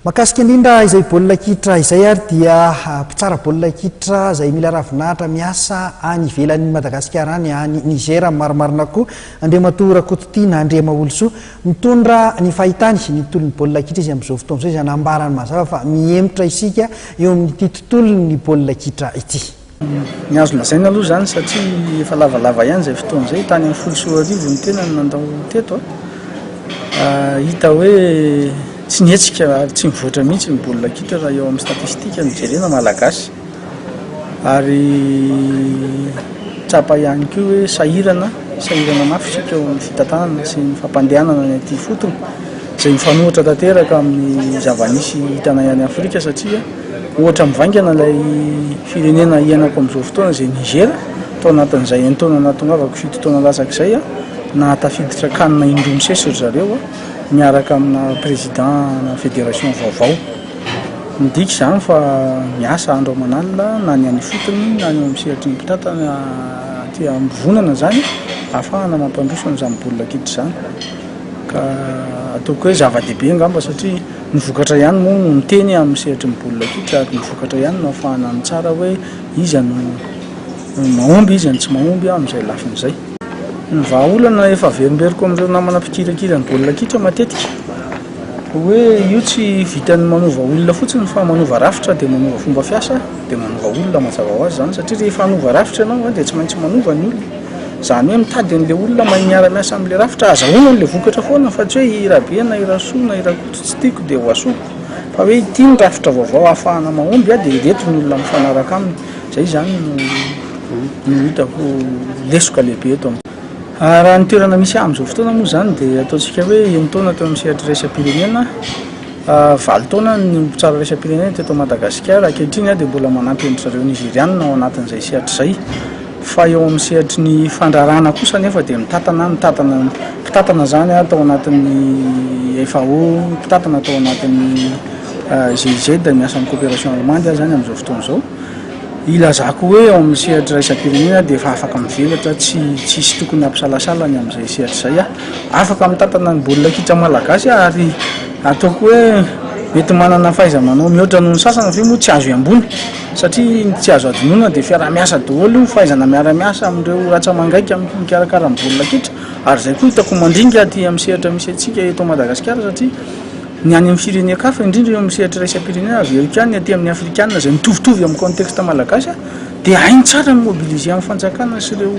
Mahakasika indrindra izay baolina kitra izay ary dia mpitsara baolina kitra izay mila ravinahitra miasa any ivelan'i Madagasikara any any Niger marimarina koa Andriamatoa Rakototiana Andriamaolosoa mitondra ny fahitany ny tontolon'ny baolina kitra izy amin'izao fotoana izao izay nambarany mazava fa mihemotra isika eo amin'ity tontolon'ny baolina kitra ity. Ny azo lazaina aloha izany satria efa lavalava ihany izay fotoana izay, tany amin'ny folo sy roa arivo ny tena no nandao teto. Hita hoe tsy nihetsika ary tsy mivoatra mihitsy ny baolina kitra raha eo amin'ny statistika no jerena malagasy. Ary tsapa ihany koa hoe sahirana, sahirana mafy isika eo amin'ny fitantanana sy ny fampandehanana ny aty ifotony izay mifanohitra tanteraka amin'ny zava-nisy hitanay any Afrika satria Ohatra mivaingana ilay firenena iainako amin'izao fotoana izay Niger, tao anatin'izay entoana nahatongavako fito taona latsaka izay aho, nahatafiditra can indroa misesy ry zareo miaraka amina président-na fédération vaovao. Midika izany fa miasa andro aman'alina na ny any ifotony na ny eo amin'ny sehatry ny mpitantana aty am-pivonana izany ahafahana mampandroso an'izany baolina kitra izany ka ataoko hoe zava-dehibe angamba satria Ny vokatra ihany moa no miteny amin'ny sehatry ny baolina kitra ary ny vokatra ihany no ahafahana mitsara hoe iza no mahomby, iza no tsy mahomby amin'izay lafiny izay. Ny vahaolana efa averimberiko amin'ireo namana mpikirakira ny baolina kitra matetika dia hoe io tsy vitan'ny manova olona fotsiny fa manova rafitra dia manova fomba fiasa dia manova olona mazava ho azy izany satria rehefa hanova rafitra ianao dia tsy maintsy manova ny olona. Izany hoe mitady an'ilay olona mahay miara-miasa amin'ilay rafitra hahazahoana an'ilay vokatra foana fa tsy hoe i Rabe na i Rasoa na i Rakoto tsy tiako dia ho asoko fa hoe ity ny rafitra vaovao hahafahana mahomby aho dia ireto ny olona mifanaraka aminy. Izay izany no no hitako lesoka lehibe eto amin'izao. Raha ny toerana misy ahy amin'izao fotoana moa izany dia ataontsika hoe enin-taona teo amin'ny sehatra iraisam-pirenena aho, valo taona ny mpitsara iraisam-pirenena teto Madagasikara, ankehitriny aho dia mbola manampy an-dry zareo Nizeriana ao anatin'izay sehatra izay. Fa eo amin'ny sehatry ny fandraharahana kosa anefa dia mitatana, mitatana, mpitantana izany tao anatin'ny FAO, mpitantana tao anatin'ny GIZ, ny asan'ny coopération allemande ary izany amin'izao fotoana izao, ilazako hoe eo amin'ny sehatry iraisam-pirenena dia efa afaka mivelatra, tsy tsisy tokony hampisalasala ny amin'izay sehatra izay aho. Afaka mitatana ny baolina kitra malagasy aho ary ataoko hoe mety manana fahaiza-manao mihoatra noho ny sasany ve moa tsy azo iamboana? Satria ny tsy azo hadinoina dia fiaraha-miasa daholo io, fahaizana miara-miasa amin'ireo ratsa-mangaika mikarakara ny baolina kitra, ary izay koa hitako mandringa aty amin'ny sehatra misy antsika eto Madagasikara satria ny any amin'ny firenen-kafa indrindra eo amin'ny sehatra iraisam-pirenena avy eo ihany ny aty amin'ny afrikana izay mitovitovy amin'ny contexte malagasy dia hainy tsara ny mobiliser amin'ny fanjakana sy ireo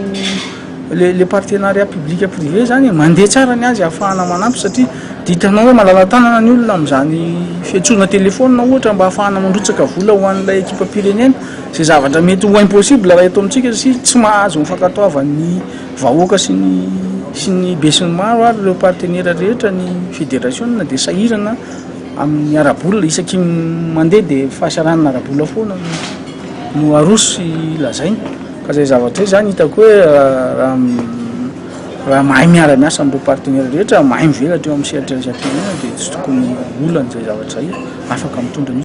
Le le partenariat public privé zany mandeha tsara ny azy ahafahana manampy satria dia hitanao hoe malala-tanana ny olona amin'izany fiantsoana telefaonina ohatra mba ahafahana mandrotsaka vola ho an'ilay ekipam-pirenena izay zavatra mety ho impossible raha eto amintsika satria tsy mahazo ny fankatoavan'ny vahoaka sy ny sy ny besinimaro ary ireo partenera rehetra ny federasiona dia sahirana amin'ny ara-bola isaky ny mandeha dia fahasahiranana ara-bola foana no aroso sy lazaina. Ka izay zavatra izay izany hitako hoe raha raha mahay miara miasa amin'ireo partenaires rehetra, mahay mivelatra eo amin'ny sehatra iraisam-pirenena dia tsy tokony ho olana izay zavatra izay, afaka mitondra mihitsy.